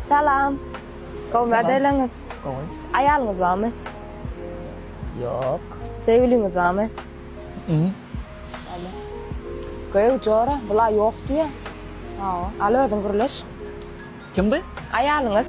Salam. Gowy medeliňiz. Gowy. Aýalyňyz barmy? Ýok. Söýgüliňiz barmy? Mhm. Alo. Gowy jora, bula ýok diýe. Hawa. Al özüň gürleş. Kim bu? Aýalyňyz.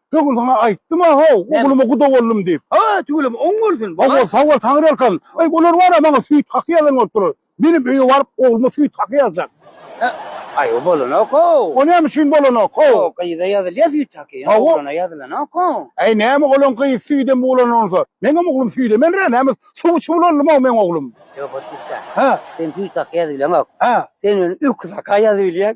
Şu gün sana aýtdym a how, ogluma guda boldum diýip. A, tüweleme oň bolsun. How bol, how bol, Taňry ýalkasyn. Aý, olar bar-a maňa süýt haky ýazan bolup durlar. Menem öýe baryp, ogluma süýt haky ýazjak. He, aý, o bolanok how. O näme üçin bolanok how? How, gyza ýazylýa süýt haky, ýöne oglana ýazylanok how. Aý, näme oglan gyz süýdem buglan onsa. Meňem oglum süýdemenrä, näme suw içip ulalym how meň oglum. Ýok, otlysa. Hä. Sen süýt haky ýazyp bileňok. Hä. Sen öýüne öküz haka ýazyp bilýäň.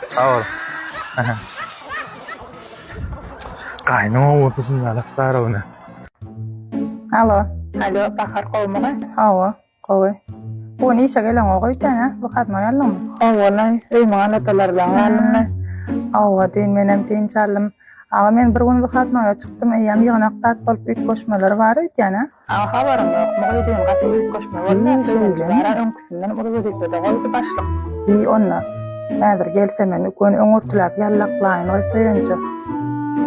Sag ol. Gaýnyň owadan ýalak darowne. Alo. Alo, Bahar gowumy? Hawa, gowy. Bu gün işe geleňok öýdýän-ä? Wykadnoý aldyňmy? Howalaý, öýümiň aladalary bilen galdym-da. Hawa, düýn menem dynç aldym. Aga, men bir gün wykadnoýa çykdym, eýýäm ýygnak zat bolup üýtgeşmeleri bar öýdýän-ä? Aňa habarym ýok. Mugydyň gaty büyük göçme boldy. Söýenji bara öňküsinden uly wezipede goýdy başlyk. Bi onda, häzir gelse men üküni öňürtiläp ýallaklaýyn goý Söýenje.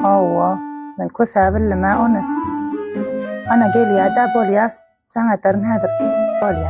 Hawa, men kösä bildim-ä ony. Ana gelýä-dä, bolýa, jaň ederin häzir. Bolýa.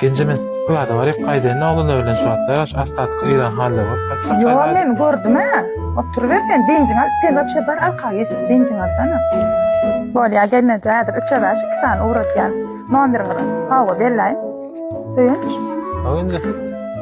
Genje men sizi pylada baryk gaýdaýyn oglanlar bilen şu wagt daraş astatyk yran halda bolup gaçjak gaýdaýyn. Ýo men gördüm hä. Oturyber sen dynjyňy alyp sen wapşe bar arka geçip dynjyňy alsana. Bolýa gelneje häzir üçe bäş iki sany ugratýan nomeriňizi hawa bellaýyn. Söýünç. Hawa indi.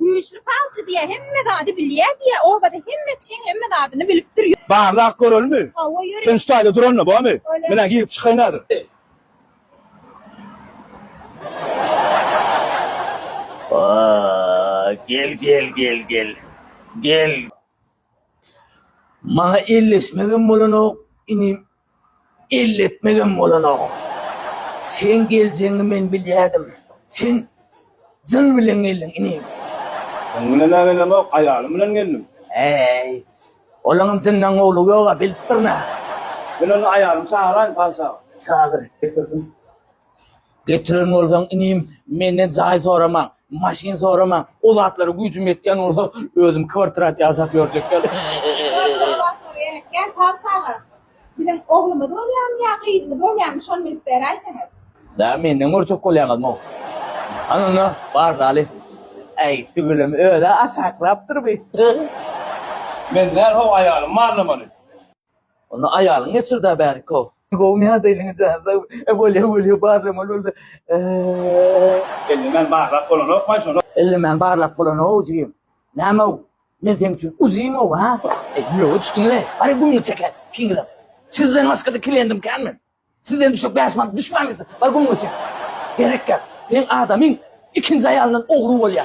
Güýçli palçy diýýä hemme zady bilýä diýýä obada hemme kişiň hemme zadyny bilipdir. Barlap görelimi? Hawa ýöre. Sen şu taýda duranda bomy? Menä girip çykaýyn hazir. Gel gel gel gel. Gel. Maňa elleşmegem bolanok, inim, elletmegem bolanok. Seň geljegiňi men bilýärdim. Sen jyn bilen geldiň, inim. Jyn bilen-ä gelemok, aýalym bilen geldim. Äý, olaňam jyndan gowulygy ýog-a, bilipdirin-ä. Men onda aýalymy çagyrayyn, patyşa aga. Çagyr, getirdim. Getiren bolsaň, inim, menden jaý soramaň, maşyn soramaň, o zatlara güýjüm ýetýän bolsa, özüm kwartirat ýasap ýörjek ýaly. Gel, sag çaga, biziň oglumyz bolýamy ýa gyzymyz bolýamy, şony bilip beräýseňiz. Dä, menden görjek bolýaňyzm-ow. Hany onda, bar daly. Äý, tüweleme, öz-ä aşaklapdyr bi. Men däl-how, aýalym barlamaly. Onda aýalyňy geçirda bärikow. Gowy näde eliňi jazda bolýa bolýa barlamaly bolsa. Ellemän barlap bolanokmaý şony. Ellemän barlap bolanow ujyň. Nämow men seň üçin ujymow ha. Ýoga düşdiňle ary gumly çeker ikiňizem. Sizden başgada kliendim kän men. Sizden düşek bäş manat düşmän gitse bar gumly çek. Gerek ýok. Seň adamyň ikinji aýalyndan ogry bolýa.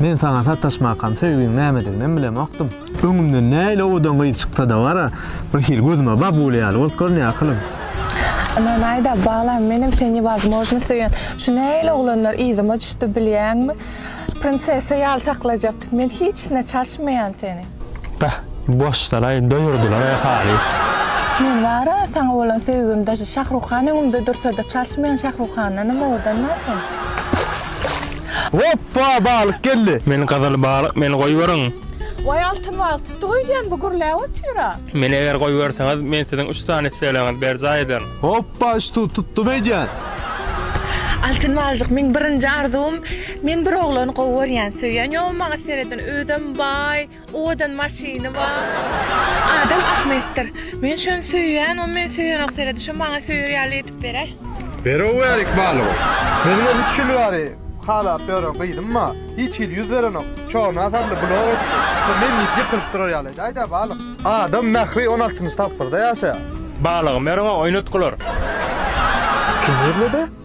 Men saňa sataşmakam, söýgiň nämediginem bilemokdym. Öňümden nähili owadan gyz çyksa-da bar-a, birhili gözüme babuly ýaly bolup görünýär ahylym. Ynanaý-da, balam, menem seni newozmojno söýen. Şu nähili oglanlar yzyma düşdi bilýäňmi? Prinsessa ýaly saklajak. Men hiç hine çalşmaýan seni. Beh, boşdalaý, doýurdylar-a halyt. Meň bar-a saňa bolan söýgim daşy Şahruhan öňümde dursa-da çalşmaýan Şahruhandanam owadanm-a sen. Hoppa, balyk geldi! Men gyzyl balyk, meni goýberiň! Waý altyn balyk, tutduk öýdýän bu gürläp otyr-a. Meni eger goýberseňiz, men siziň üç sany islegleňizi berjaý ederin. Hoppa, ştu, tutdum öýdýän! Altyn balyjyk, meň birinji arzuwym. Men bir oglany gowy görýän söýýän ýogmy maňa sereden özem baý owadan maşyny bar. Adam ahmetdir men şony söýýän o meni söýenok seredi şo maňa söýer ýaly edip beräý. Berower ykbalyň özüňe üç ýyl bäri halap ýören gyzymma hiç hili ýüz berenok çorna sarly blok etdi şo men diýip ýykylyp durar ýaly edäýdä balyk. Adam mähri on altynjy tapgyrda ýaşaýar. Balygym ýörüň-ow oýnatgylar. Kim ýerledi?